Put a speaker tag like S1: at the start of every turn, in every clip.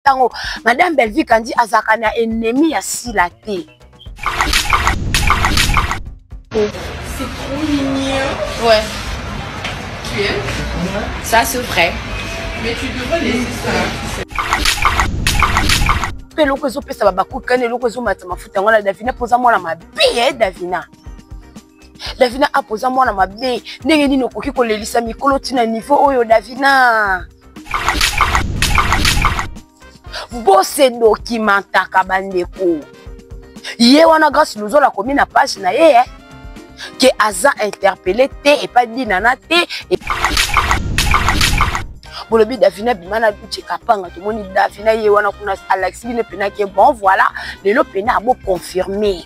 S1: ntango madame belvie kandi azalaka na ennemi ya sila te
S2: C'est trop mignon. Ouais. Tu
S3: aimes
S2: Ça, c'est
S3: vrai. Mais tu
S2: devrais laisser
S1: ça. mpe eloko ezopesa babakukani eloko ezomata mafuta yango na davina mpo oza mwana mabe ye davina davina apo oza mwana mabe ndenge nini okoki kolelisa mikolo ntina nivo oyo davina bose dokimentaka bandeko ye wana grace luzolo akomi na page na ye eh? ke aza interpele te epai dinana te e... bolobi davina bima na duce kapanga tomoni davina ye wana kuna alakisi bino mpenake bon voilà lelo mpena aboconfirme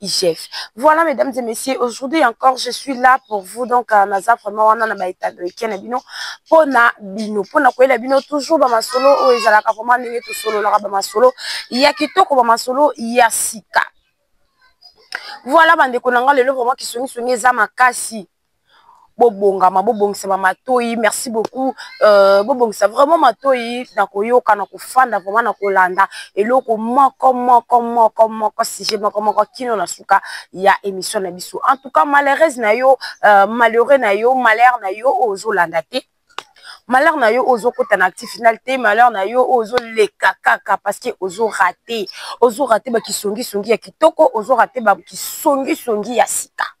S1: IGF. Voilà, mesdames et messieurs, aujourd'hui encore, je suis là pour vous. Donc, euh, naza vraiment wana na baita de week-end na bino. Pona bino, pona koyela bino toujours ba masolo oyo ezalaka vraiment ndenge to solo laka ba masolo. Ya kitoko ba masolo ya sika. Voilà bande konanga lelo vraiment kisoni soni eza makasi. bobongama bobongisa ba matoyi merci beaucoup euh, bobongisa vraiment matoyi na koyoka na kofanda vraiment na kolanda eloko moko moko moko moko sujet moko moko kino na suka ya emission na biso en tout cas malheureuse na yo euh, malheureux na yo malheur na yo ozolanda te malheur na yo ozokota na actif final te malheur na yo ozoleka kaka parce que ozo rate ozo rate bakisongisongi ya kitoko ozo rate bakisongisongi ya sika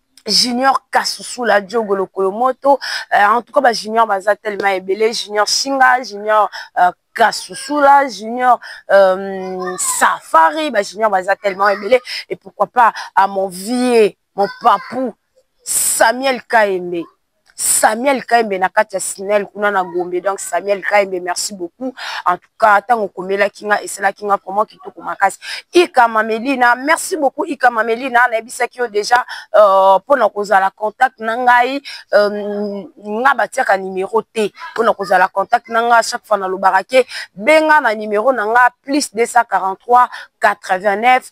S1: junior kasusula diogo lokolo moto euh, en tout cas ba junior baza tellement ebele junior singa junior euh, kasusula junior euh, safari ba junior baza tellement ebele et pourquoi pas à mon vieux mon papou samuel kaembe Samuel Kahembe na kati ya SNEL kuna na Gombe donc Samuel Kahembe merci beaucoup en tout cas ntango okomelaki nga esalaki nga vraiment kitoko makasi Ika Mamelina merci beaucoup Ika Mamelina nayebisaki yo déjà euh, mpo na kozala contact na ngai euh, nga batiaka numero te mpo na kozala contact na ngai chaque fois nalobaka ke benga na numero na ngai plus 243 89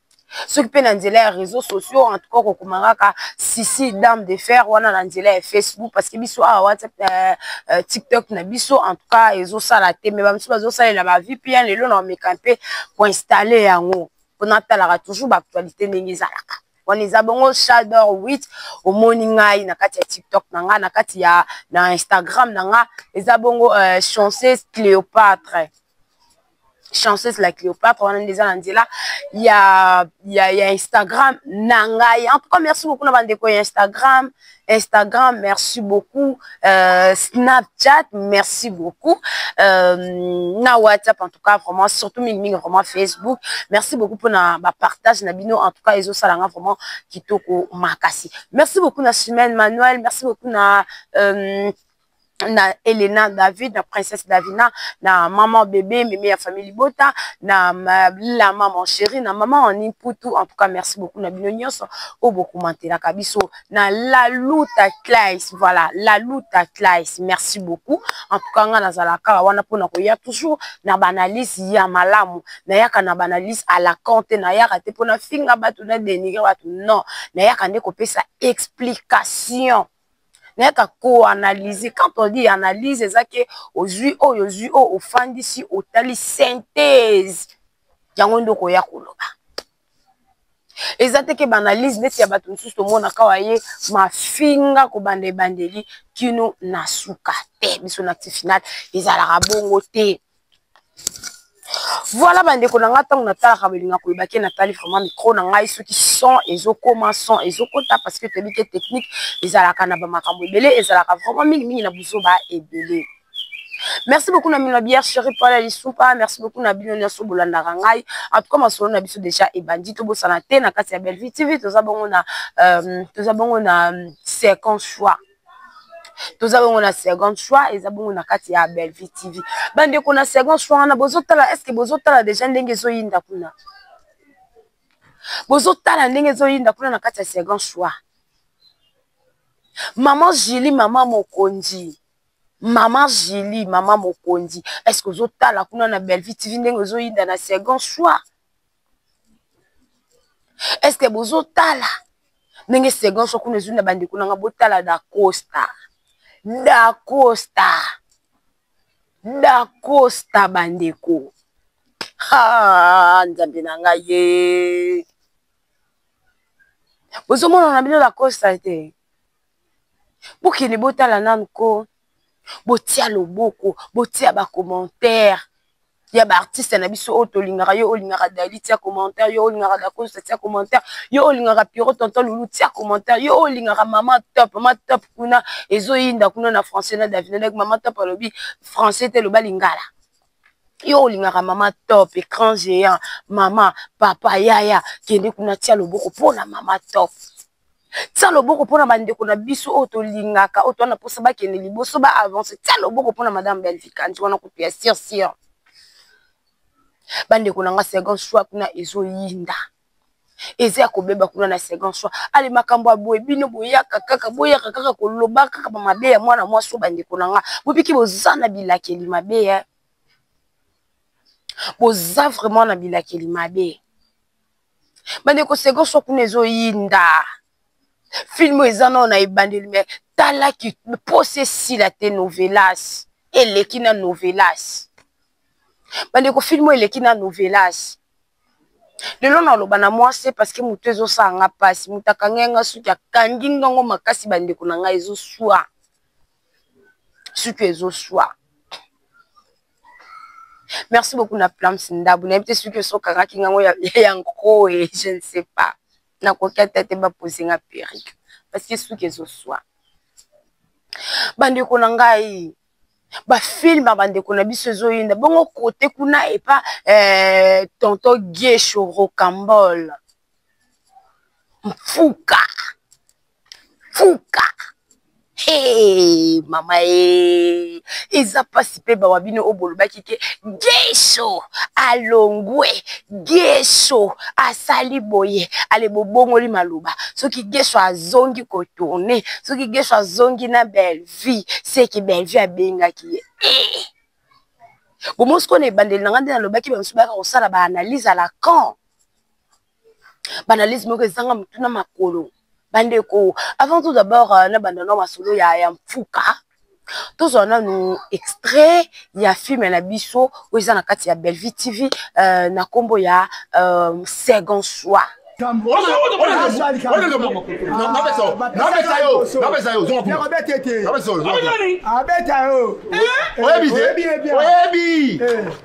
S1: soki mpe na nzela ya réseau sociaux en tout cas okokoma kaka sisi dame de fer wana na nzela ya facebook parce que biso awa whatsapp euh, euh, tiktok na biso en tout cas ezosala te mais bamosusu bazosalela ba vpn lelo na omeka mpe koinstalle yango mpo natalaka toujours baactualité ndenge ezalaka wana eza bongo shador 8 omoni ngai na kati ya tiktok na ngai na kati ya na instagram na ngai eza bongo euh, chanceuse cléopatre chanceuse la cleopatre wana nde eza na nzela ya, ya, ya instagram na ngai en tout cas merci beaucoup na bandeko ya instagram instagram merci beaucoup euh, snapchat merci beaucoup euh, na whatsapp en tout cas vraiment surtout mingimingi vraiment facebook merci beaucoup mpona bapartage na bino en tout cas ezosala nga vraiment kitoko makasi merci beaucoup na semaine manuel merci beaucoup na euh, na Elena David na princesse Davina na maman bébé mimi ya famille libota na la maman chérie na maman en imputu en tout cas merci beaucoup na bino nyonso oyo bokomantelaka biso na la luta classe voilà la luta classe merci beaucoup en tout cas nga nazala kaka wana mpona koya toujours na banalyse ya malamu nayaka na banalyse à la compte nayaka te mpona finga bato na dénigre bato non nayaka nde kopesa explication nayaka koanalyse quand on dit analyse eza ke ozwi oyo ozwi oyo ofandisi otali synthese yango nde okoya koloba eza te ke baanalyse neti ya bato mosusu tomonaka wa ye mafinga kobanda ebandeli kino na suka te biso na ti finale ezalaka bongo te voilà bandeko na ngai ntango natalaka bolinga koyeba ke natali vraiment micro na ngai soki son ezokoma son ezokota parce que toyebi ke technique ezalaka na bamakambo ebele ezalaka vraiment mingimingi na buzoba ebele merci beaucoup na mino biere cheri pala lisupa merci beaucoup na bino nyonso bolandaka ngai en tout cas masolo na biso déjà ebandi tobosana te na kati ya bellevue tv toza bongo na euh, toza bongo na second choix toza bongo na second choix eza bongo na kati ya bellevue tv bandeko na second choix wana bozotala estce bozotala deja ndenge ezoyinda kuna bozotala ndenge ezoyinda kuna na kati ya second choix mama julie mama mokonzi mama julie mama mokonzi estce ozotala kuna na bellevue tv ndenge ezoyinda na second choix est ce que bozotala ndenge segon so kuna ezwi na bandeko nanga botala dacosta dacosta dacosta bandeko nzambe na ngai ye bozomona na bino dacosta te bokende botala nanu ko botia loboko botia ba commentaire ya ba artiste na biso oyo tolingaka yo olingaka dady tia commentaire yo olingaka dacosta tia commentaire yo olingaka pierrot tonton loulou tia commentaire yo olingaka mama top mama top kuna ezoyinda kuna na français na davina donc mama top alobi français te eloba lingala yo olingaka mama top ecran geant mama papa yaya kende kuna tia loboko mpona mama top tia loboko mpona bandeko na biso oyo tolingaka oyo towana mposa bakende liboso ba avance tia loboko mpona madame belvikanti wana kutu ya sir sir bandeko na nga second choix kuna ezoyinda eza ya kobeba kuna na second choix ale makambo ya boye bino boyaka kaka boyaka kaka koloba kaka bamabe ya mwana mwasi oyo bandeko na nga bopiki boza na bilakeli mabe ya boza vraiment na bilakeli mabe bandeko seko so kuna ezoyinda filme oyo eza nao na ebandeli me tala mposa esila te novelas eleki na novelas bandeko filme oyo eleki na novelas lelo naloba na mwasi parce que motu ezosala nga mpasi moto akangi yanga suki akangi ngango makasi bandeko na ngai ezoswa suki ezoswa merci beaucoup na plams ndabu nayebi te soki oso okangaki ngango ya nkoe je ne sais pas nakoki ata te bapose nga perike parce que suki ezoswa bandeko na ngai bafilme ya bandeko na biso ezoyinda bongo kote kuna epa eh, tonto giesho rocambole mfuka mfuka hey, mama e eza mpasi mpe bawa bino oyo bolobaki ke gesho alongwe gesho asali boye ale bobongoli maloba soki gesho azongi kotourne soki gesho azongi na bellevie seke bellevie abengaki ye hey. Eh! bomosi kona ebandeli na ngai nde nalobaki bamosusu bayaka kosala baanalyse à la camp banalyse moko ezanga mutu na makolo bandeko avant tout d'abord euh, na banda na masolo ya, ya mfuka tozwa nanu extrait ya filme na biso oyo eza na kati ya bellevue tv euh, na nkombo ya euh, second soir oyebi
S4: te oyebi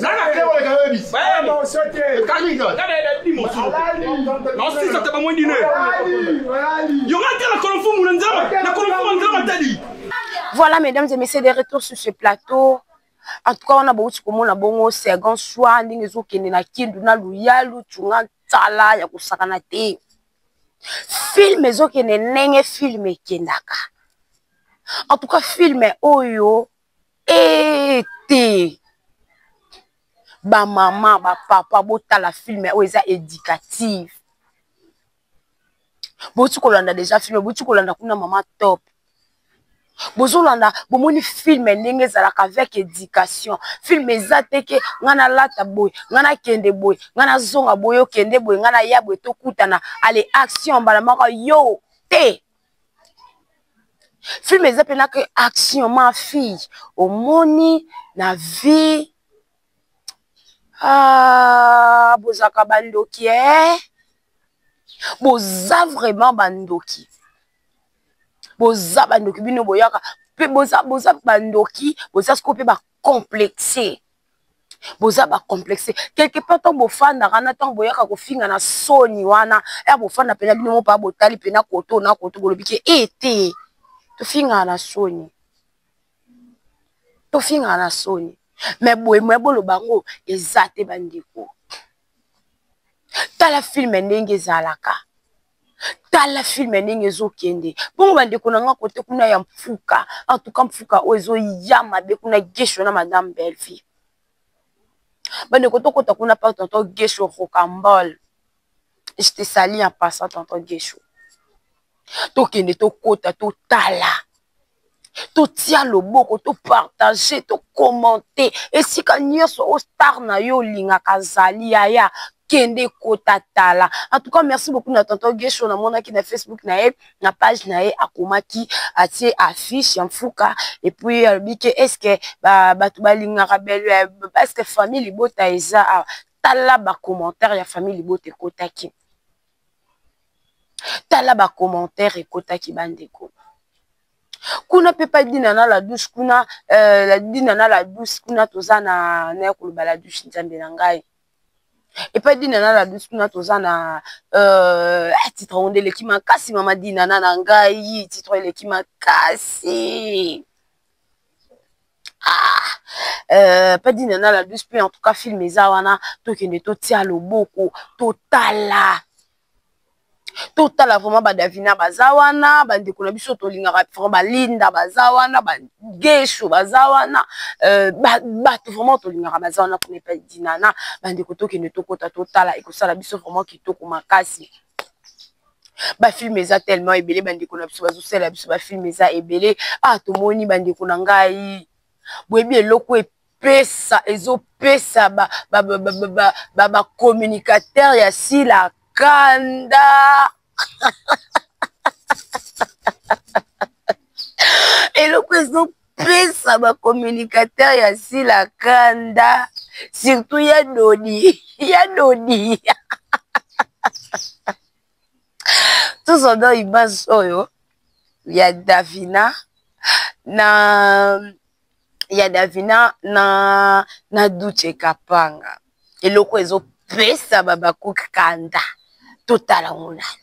S1: Nana kile wale kawe bis. Baya mo sote. Kali ka. Kada da di mo sote. Na osi sa taba mwendi ne. Yo ma tela kolomfu mu nzama. Na kolomfu mu nzama tadi. Voilà mesdames et messieurs des retours sur ce plateau. En tout cas wana bauti komona bongo second soir ndenge ezokende na kindu na luyalu tunga nsala ya kosakana te filme ezokende ndenge filme ekendaka en tout cas filme oyo ee te bamama bapapa botala filme oyo eza éducative boti kolanda deja filme boti kolanda kuna mama top bozolanda bomoni filme ndenge ezalaka avec éducation filme eza te ke ngai nalata boye ngai nakende boye ngai nazonga boye okende boye ngai naya boye tokutana ale action mbala moko yo te film eza mpe na ke action ma fille omoni na vie ah, bozalaka bandoki e eh? boza vraiment bandoki boza bandoki bino boyaka mpe boza boza bandoki boza sikoyo mpe complexe boza bacomplexe quelque part ntango bofandaka na ntango boyaka kofinga na soni wana ya bofanda mpena bino mopaa botali mpena koto na koto bolobi ke e te tofingaka na soni tofingaka na soni me boye me boloba yango eza te bandeko tala filme ndenge ezalaka tala filme ndenge ezokende bongo bandeko na nga kote kuna ya mfuka antuka mfuka oyo ezoya mabe kuna gesho na madame belvi bandeko tokota kuna pa tonton gesho rocambol je te sali en passant tonton gesho tokende tokota totala totia loboko topartage tokomante esika nyonso o star na yo olingaka azali yaya kende kota tala en tout cas merci beaucoup na tonton gesho namonaki na facebook na ye na page na ye akomaki atie affiche ya mfuka epuis alobi ke estce bato balingaka belo ya estce famille libota eza awa tala bacommentaire ya famille libota ekotaki tala ba commentaire ekotaki bandeko kuna mpe pa dina na la douce kuna euh, dina na la douce kuna toza na naya koloba la douce nzambe na ngai epai dina na la douce kuna toza na euh, ah, titre yango nde eleki makasi mama dina na na ngai titre eleki makasi ah euh, padina na la douce mpe en tout cas film eza wana tokende totia loboko totala totala vraiment badavina baza wana bandeko na biso tolingaka vraiment balinda baza wana bagesho baza wana euh, bato vraiment tolingaka baza wana kuna epai dinana bandeko tokende tokota totala ekosala biso vraiment kitoko makasi ba film eza tellement ebele bandeko na biso bazosala biso ba film eza ebele ah tomoni bandeko na ngai boyebi eloko epesa ezopesa bacommunicateur ya sila kanda eloko ezo pesa ba communicateur ya sila kanda surtout ya dodi ya dodi tous odo image oyo ya davina na ya davina na na duce kapanga eloko ezopesa babakuki kanda totala ngo nani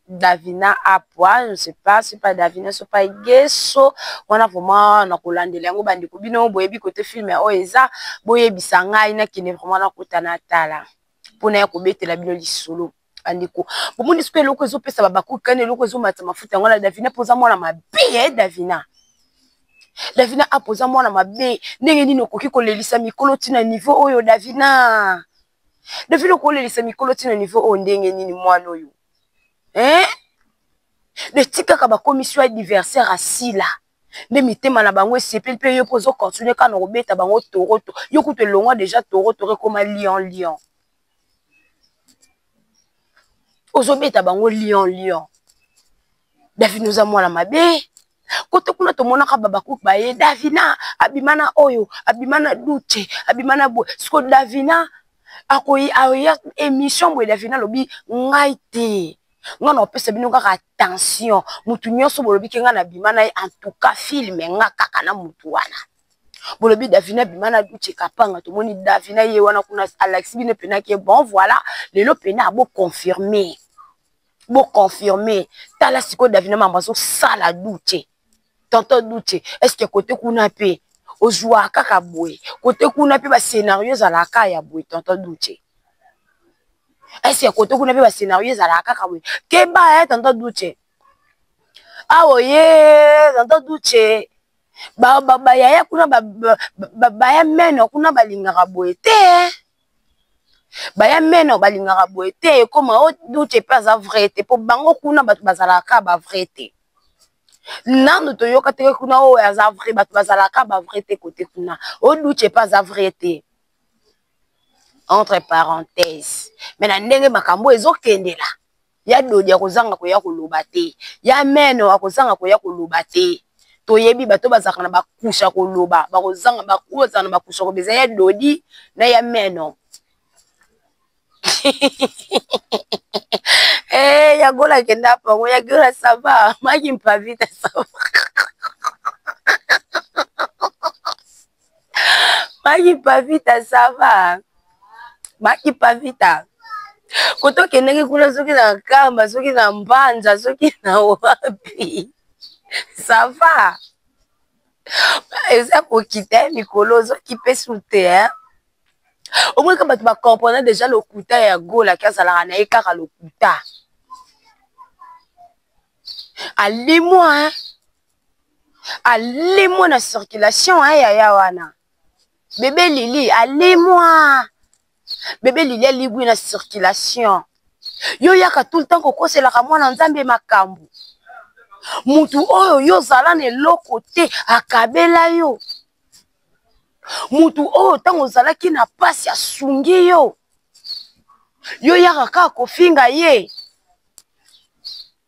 S1: davina apwa je sais pas soki pa davina soki pa geso wana vraiment na kolandela yango bandeko bino boyebi kote filme oyo eza boyebisa ngai nakende vraiment nakota natala mpona ya kobetela bino lisolo bandeko bomoni soki eloko ezopesa babakuki kani eloko ezomata mafuta yango na davina mpoza mwana mabe ye eh, davina davina apoza mwana mabe ndenge nini okoki kolelisa mikolo ntina nivo oyo davina David okolelisa mikolo ti na niveau oyo ndenge nini mwana oyo eh? de tikaka bakomisi yo adversaire asila nde mitema na bango esepeli mpe yo mpe ozo continue kaka na kobeta bango toroto yo kutu elongwa deja torotoro ekoma lion lion ozobeta bango lion lion davina oza mwana mabe kote kuna tomonaka babakuki baye davina abima na oyo abima na dute abima na boye siko davina akoyi aoya émission boye davina alobi ngai te nga na opesa bino kaka attention motu nyonso bolobi ke nga na bima na ye en tout cas filme nga kaka na motu wana bolobi davina bima na duce kapanga tomoni davina ye wana kuna alakisi bino mpena ke bon voilà lelo mpena aboconfirme bo confirme tala sikoyo davina mambo azosala dute tonton dute estce kote kuna mpe ozwaka kaka boye kote kuna mpe bascenario ezalaka kaka ya boye tonton dute estce kote kuna mpe bascenario ezalaka kaka boye keba ya eh, tonton dute awa oye tonton dute bayaya kuna baya meno kuna balingaka boye te baya meno balingaka boye te ekoma o dute mpe aza vrai te mpo bango kuna bato bazalaka kaka ba vrai te nanu toyoka te kuna oyo aza vrai bato bazalaka ba vrai te kote kuna o dute mpe aza vrai te entre parenthèse me na ndenge makambo ezokendela ya dodi akozanga koya koloba te ya meno akozanga koya koloba te toyebi bato bazalaka na bakusha koloba bakozanga bakozala na bakusha koloba eza ya dodi na ya meno eh ya gola kenda pango ya gola sava maki mpavita sava maki pavita sava maki pavita koto okendeki kuna soki na kamba soki na mbanza soki na wapi sava eza kokita ye mikolo ozokipe su te hein omonaka bato bacomprena deja lokuta ya golaki azalaka na ye kaka lokuta alimwa hein alimwe na circulation ya eh, yaya wana bebe lili alimwa bebe lili aligwi na circulation yo yaka tout le temps kokoselaka mwana nzambe makambo mutu oyo yo ozala na eloko te akabela yo mutu oyo ntango ozalaki na mpasi asungi yo yo yaka kaka kofinga ye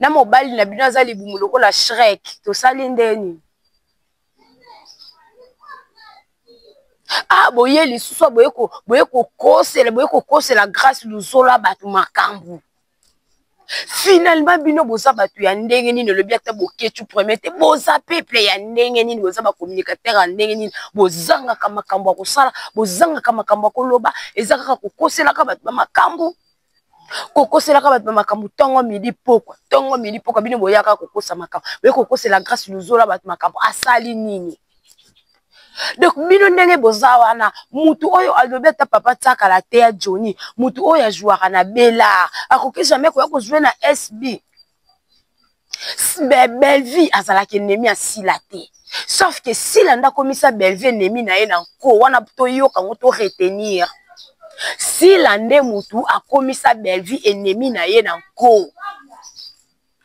S1: na mobali na bino aza libumu lokola shrek tosali ndeni ah boye lisusu boye ko boye kokosela boye kokosela grâce luzola bato makambo finalement bino boza bato ya ndenge nini olobi ata boketu premier te boza peuple ya ndenge nini boza bacommunicateur ya ndenge nini bozangaka makambo ya kosala bozangaka makambo ya koloba eza kaka kokoselaka bato bamakambo kokoselaka bato bamakambo ntongo midi pokwa ntongo midi pokwa bino boyaka kokosa makambo boye kokosela grâce luzola bato makambo asali nini donc bino ndenge boza wana mutu oyo alobi ata papa tiakala te ya joni mutu oyo ajouaka na bela akoki jamais koya kozwe na sb bellevie azalaki ennemi ya sila te sauf ke sila nde akomisa bellevie ennemi na ye na nko wana toyoka yango to retenir sila nde motu akomisa bellevie ennemi na ye na nko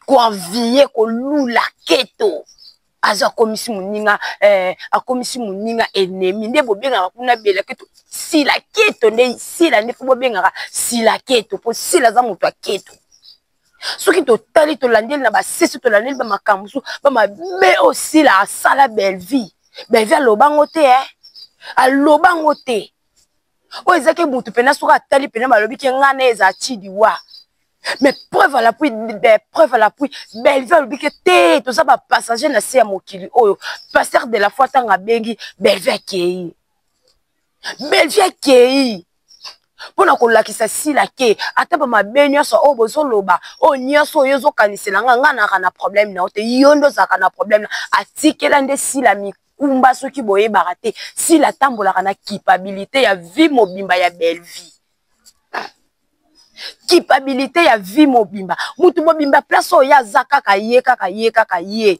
S1: koenvie kolula keto aza akomisi moninga eh, akomisi moninga ennemi nde bobengaka kuna bela keto sila keto nde sila nde fo bobengaka sila keto mpo sila aza moto ya keto soki totali tolandeli na basisi tolandeli bamakambo mosusu bamabe oyo sila asala bellevie bellevie aloba yango te e aloba yango te oyo ezaki motu mpena soki atali mpena balobi ke ngai na eza cidiwa mais preuve à l'appui preuve à l'appui bellevue alobi ke te toza bapassager na se ya mokili oyo pasteur de la foi ntango abengi bellevue akei belvi akei mpo na kolakisa sila ke ata bamabe nyonso oyo bozoloba oyo nyonso oyo ezokanisela nga nga naka na problème na yo te yo nde ozalaka na problème na atikela nde sila mikumba soki boyebaka te sila atambolaka na kipabilité ya vie mobimba ya bellevie kipabilité ya vie mobimba motu mobimba place oyo ye aza kaka ye kaka ye kaka ye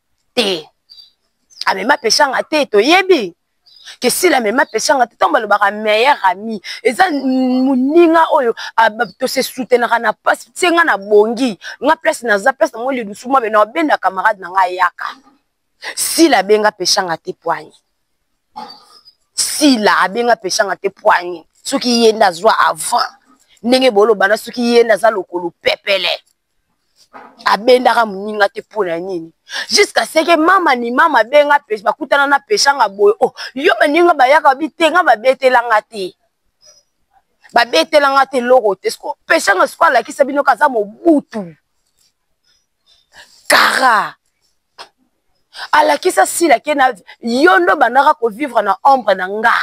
S1: te amema peshanga te toyebi ke sila amema peshanga te ntango balobaka meilleur ami eza moninga oyo tose soutenaka na mpasi se nga na bongi nga place naza place nango lidusu mabe na obenda camarade na nga ayaka sila abenga peshanga te poigne sila abenga peshanga te poigne soki ye nde azwa avant ndenge boloba na soki ye nde aza lokolo pepele abendaka moninga te mpo na nini jusqu'à ce que mama ni mama abenga bakutana na peshanga boye o oh, yo baninga bayaka babi te nga babetelanga te babetelanga te eloko te sko peshanga siko alakisa bino kaza mobutu kara alakisa sila ke na yo ndo bandaka kovivre na ombre na nga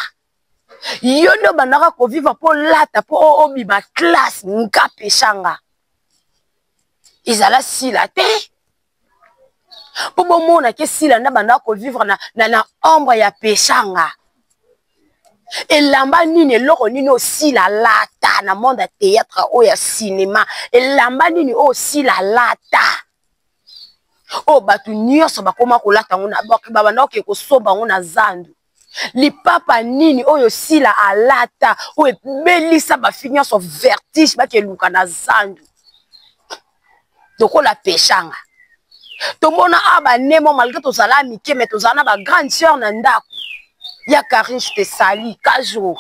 S1: yo nde obandaka kovivre mpo olata mpo obima classe nga pesanga ezala sila te mpo bomona ke sila nde abandaka kovivre na, na, na ombre ya pesanga elamba nini eloko nini osila alata na monde ya théâtre oyo ya cinéma elamba nini oyo osila alata oyo bato nyonso bakoma kolata yango babanda oke kosomba yango na zandu lipapa nini oyo sila alata oyo ebelisa bafi nyonso vertige bakeluka na zandu lokola peshanga tomona awa banemo malgre tozala mike me tozala na bagrande sœur na ndako ya karinge te sali kazo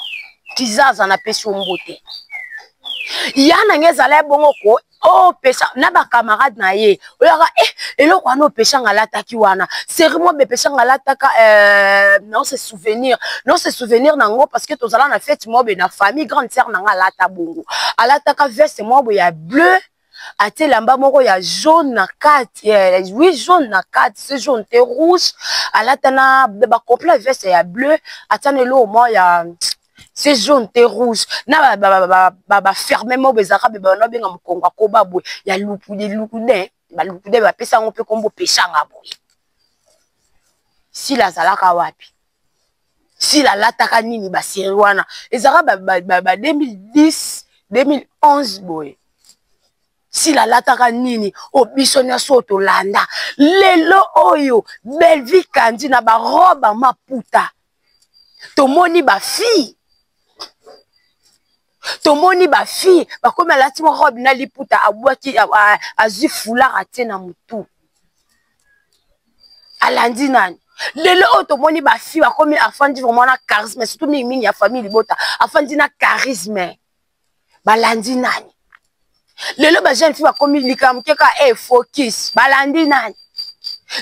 S1: kizaza na pesi ombo te ya na nge ezala ebongo ko opesa oh, na bacamarade na ye oyaka e eh, eloko wana opesa nga alataki wana seri mwa bepesa nga alataka eh, nao se souvenir nao se souvenir na yango parce que tozala na fete mwa boye na famille grande sere na nga alata bongo alataka veste mwa boye ya bleu atie elamba moko ya jaune na kati eh, oui jaune na kati se jaune te rouge alata na bacomplet veste ya bleu atia na eloko mwa ya se jaune te rouge na baferme moko ezalaka be bana babenga mokongo ya koba boye ya lukude lukude balukude bapesa yango mpe nkombo pesanga boye sila azalaka wapi sila alataka nini baseri wana ezalaka ba 2010 2011 boye sila alataka nini o biso nyonso oyo tolanda lelo oyo belvi kandi na baroba maputa tomoni bafille tomoni bafille bakomi alati mwa robe na liputa abwaki azwi foulard atie na motu alandi nani lelo oyo tomoni bafille bakomi afandi vraiment na charisme surtout mingimingi ya famille libota afandi na charisme balandi nani lelo ba jeune fille bakomi likambo te kaka e eh, focus balandi nani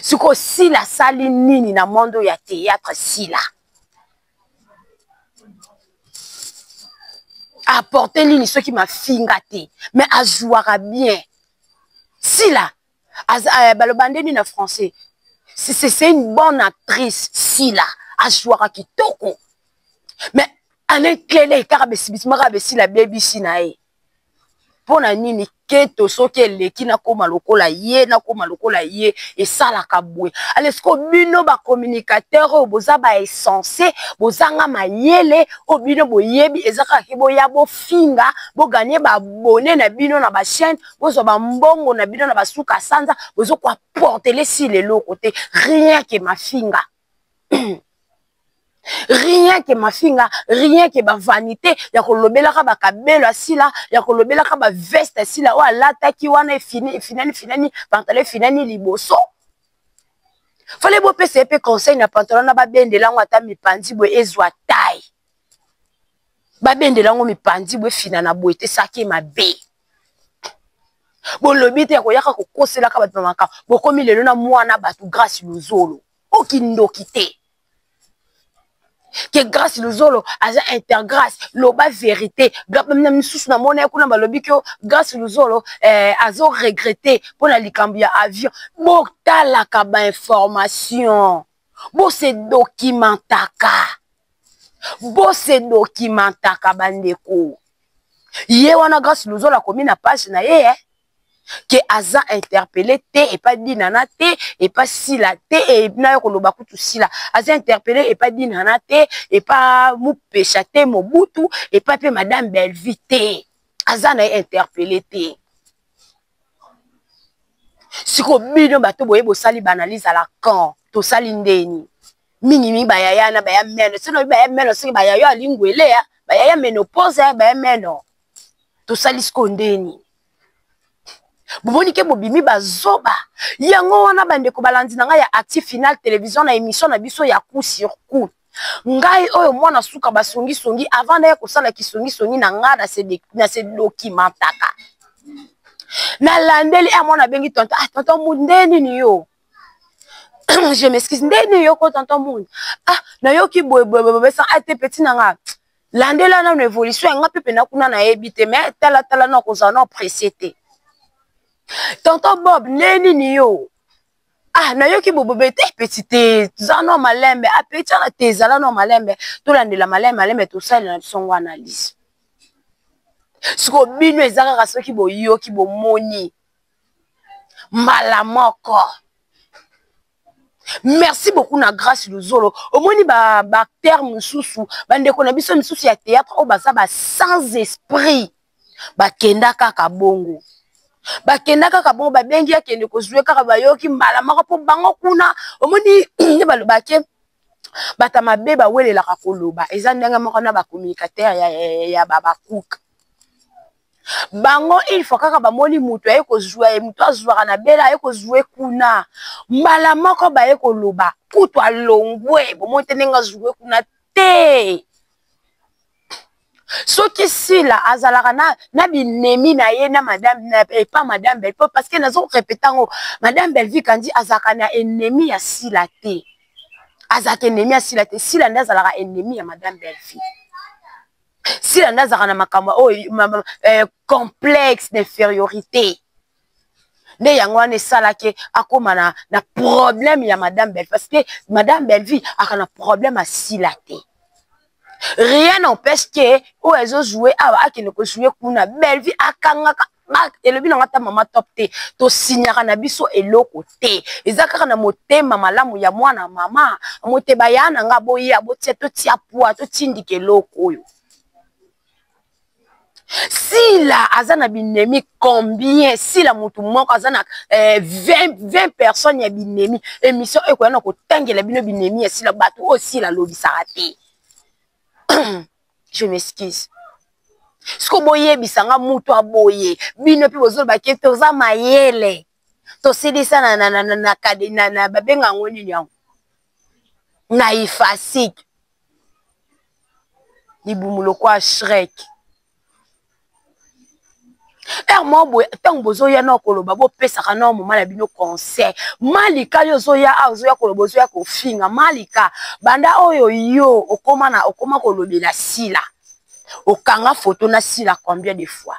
S1: sikoyo sila asali nini na monde oyo ya théâtre sila aporte nini soki mafinga te mais azwaka bien sila euh, baloba nde nini na français c'est une bonne actrice sila ajouaka kitoko mais alain clele kaka besibisima kaka besila bebisi na ye mpo na nini keto soki eleki nakoma lokola ye nakoma lokola ye esalaka boye alesko bino bacommunicateur oyo boza baessense bozanga mayele oyo bino boyebi eza kaka ke boya bofinga boganye babone na bino na bachaine bozwa bambongo na bino na basuka sanza bozokoa portele sila eloko te rien ke mafinga rien ke mafinga rien ke bavanité ya kolobelaka bakabelo ya sila ya kolobelaka baveste ya sila oyo alataki wana efinani finani pantalo efinani liboso fale bopesa ye mpe conseil na pantalon na babendela yango ata mipanzi boye ezwa tai babendela yango mipanzi boye finana boye te saki mabe bolobi te ya koyaka kokoselaka bato na makambo bokomi lelo na mwana bato grace luzolo okindoki te ke grace luzolo aza intergrace loba verité na misusu na mona ye kuna balobi ke grace luzolo eh, azo regrete mpo na likambo ya avion botalaka bainformation bose dokimentaka bose dokimentaka bandeko ye wana grace luzolo akomi na page na ye eh? ke aza interpele te epa dinana te epa sila te e, na yo koloba kutu sila aza interpele epa dinana te epa mupesha te mobutu epa mpe madame bellevue te aza na ye interpele te siko bino bato boye bosali baanalyse à la camp tosali ndeni mingi mingi bayaya na baya meno sino baya meno soki bayayo alingwelea bayaya meno posa baya meno tosali siko ndeni bomoni ke bobimi bazoba yango wana bandeko balandi na ngai ya actif final télévision na émission na biso ya coup sur coup ngai oyo mwana suka basongisongi avant naye kosala kisongisongi na ngai na se dokimentaka nalandeli a ah, mwana abengi tonton ah tonton mud nde nini yo je m'excuse nde nini yo ko tonton mud ah nayoki boyeboyeboyeboye sans ate ah, petit na ngai landela nano évolution yanga mpe mpena kuna nayebi te me talatala na kozala na presse te tonton bob nde nini yo ah nayoki bobobe te peti te toza no malembe apeti ah, wana te ezala no malembe tolandela malembe malembe tosalela na biso ngo analyse siko bino eza kaka soki boyoki bomoni mbala moko merci beaucoup na grace luzolo omoni baacteur ba mosusu bandeko na biso misusu ya théâtre oyo baza ba sans esprit bakenda kaka bongo bakenda kaka bongo babengi akende kozwa kaka bayoki mbala moko mpo bango kuna omoni nde balobake bato ya mabe bawelelaka koloba eza ndenge moko na bacommunicateur ya, ya, ya, ya babakuka bango il faut kaka bamoni moto aye kozwa ye moto azwaka na bela aye kozwa ye kuna mbala moko baye koloba kutu alongwe bomoni te ndenge azwa kuna te soki sila azalaka na, na binemi na ye na madame na, epa madame belpo parce que nazo répète yango madame belvi kandi azalaka na ennemi ya sila te azalaka ennemi ya sila te sila nde azalaka ennemi ya madame belvi sila nde azalaka na makambo oyo eh, complexe d'infériorité nde yango wana esalaki akóma na, na problème ya madame bellevie parce que madame bellevie aka na problème asila te rien n'empêche ke oyo ezojoue awa akende kojoue kuna bellevie akangaka elobi na nga ata mama top te tosinyaka na biso eloko te eza kaka na motema malamu ya mwana mama mote baya na nga boya botia totia pwa totindika eloko oyo sila aza na binemi combien sila motu moko aza na eh, 20, 20 personnes ya binemi émission ekoya na kotangela bino binemi ya sila bato oyo sila alobisaka te je m'excuse siko boyebisa nga motu aboye bino mpe bozolobake toza mayele tosilisa na, na, na, na, na, na, na babenga yango nini yango na ifasike libumu lokwa shrek heure moko boye ntango bozoya nao koloba bopesaka nao moma na bino conseil malika yo ozoya a ozoya koloba ozoya kofinga malika banda oyo yo okoma na okoma kolobela sila okanga foto na sila combien de fois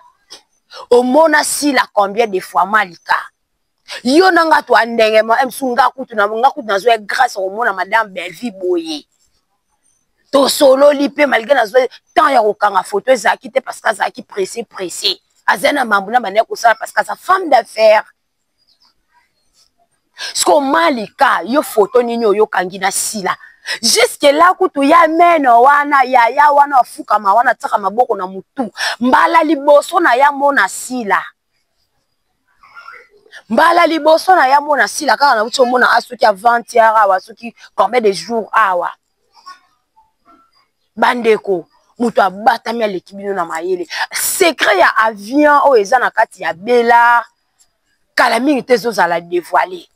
S1: omona sila combien de fois malika yo na nga twa ndenge ma msu nga kutu na nga kutu nazwa grâce komona madame Bellevue boye tosololi mpe malgré nazwa temps ya kokanga photo ezalaki te parce que azalaki pressé pressé aza na mambo na banda kosala parce que aza femme d'affaires siko malika yo foto nini oyo okangi na sila juske la kutu ya meno wana yaya wana afukama wana atisaka maboko na motu mbala liboso na ya mona sila mbala liboso na ya mona sila kaka na uti omona a soki avantiare awa soki combien de jour awa ah, bandeko moto abatami aleki bino na mayele secret ya avion oyo eza na kati ya bela kala mingi te ezozala devoile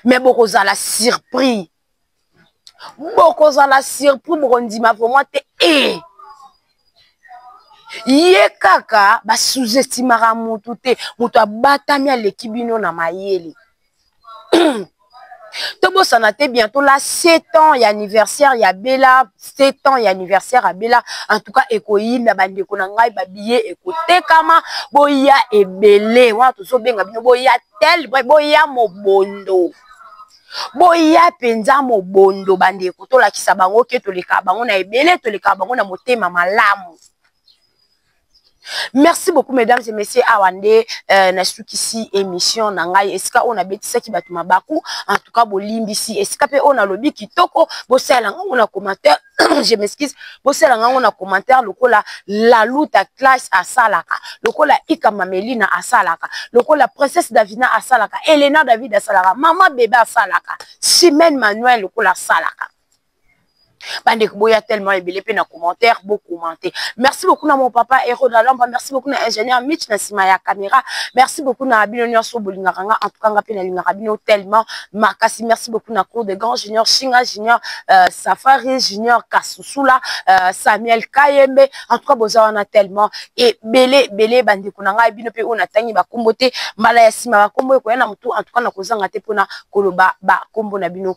S1: me bokozala surpris bokozala surpris bokondima vraimen te e ye kaka basuzestimaka motu te moto abatami aleki bino na mayele tobosana te bientôt la 7 ans ya anniversaire ya bela 7 ans ya anniversaire ya bela en tout cas ekoyinda bandeko na ngai babiye ekotekama boya ebele wana tozobenga bino boya tel boya mobondo boya mpenza mobondo bandeko tolakisa bango ke toleka bango na ebele toleka bango na motema malamu merci beaucoup mesdames et messieurs awa nde euh, nasukisi émission na ngai esika oyo nabetisaki bato mabaku en tout cas bolimbisi esika mpe oyo nalobi kitoko bosalela ngango na commentaire je m'excuse bosala ngango na commentaire lokola laluta classe asalaka lokola ika mamelina asalaka lokola princesse davina asalaka elena david asalaka mama bebe asalaka simene manuel lokola asalaka bande boya tellement ebele pe na commentaire bo commenter merci beaucoup na mon papa Hero la lamba merci beaucoup na ingénieur Mitch na sima ya caméra merci beaucoup na bino nyoso bolingaka nga en tout cas nga pe na lingaka bino tellement makasi merci beaucoup na cour de grand junior Shinga junior euh, Safari junior Kasusula euh, Samuel Kayembe en tout cas boza wana tellement et belé belé bande kuna nga bino pe ona tangi ba kombo te mbala ya sima ba kombo ko yana mutu en tout cas na kozanga te pona koloba ba kombo na bino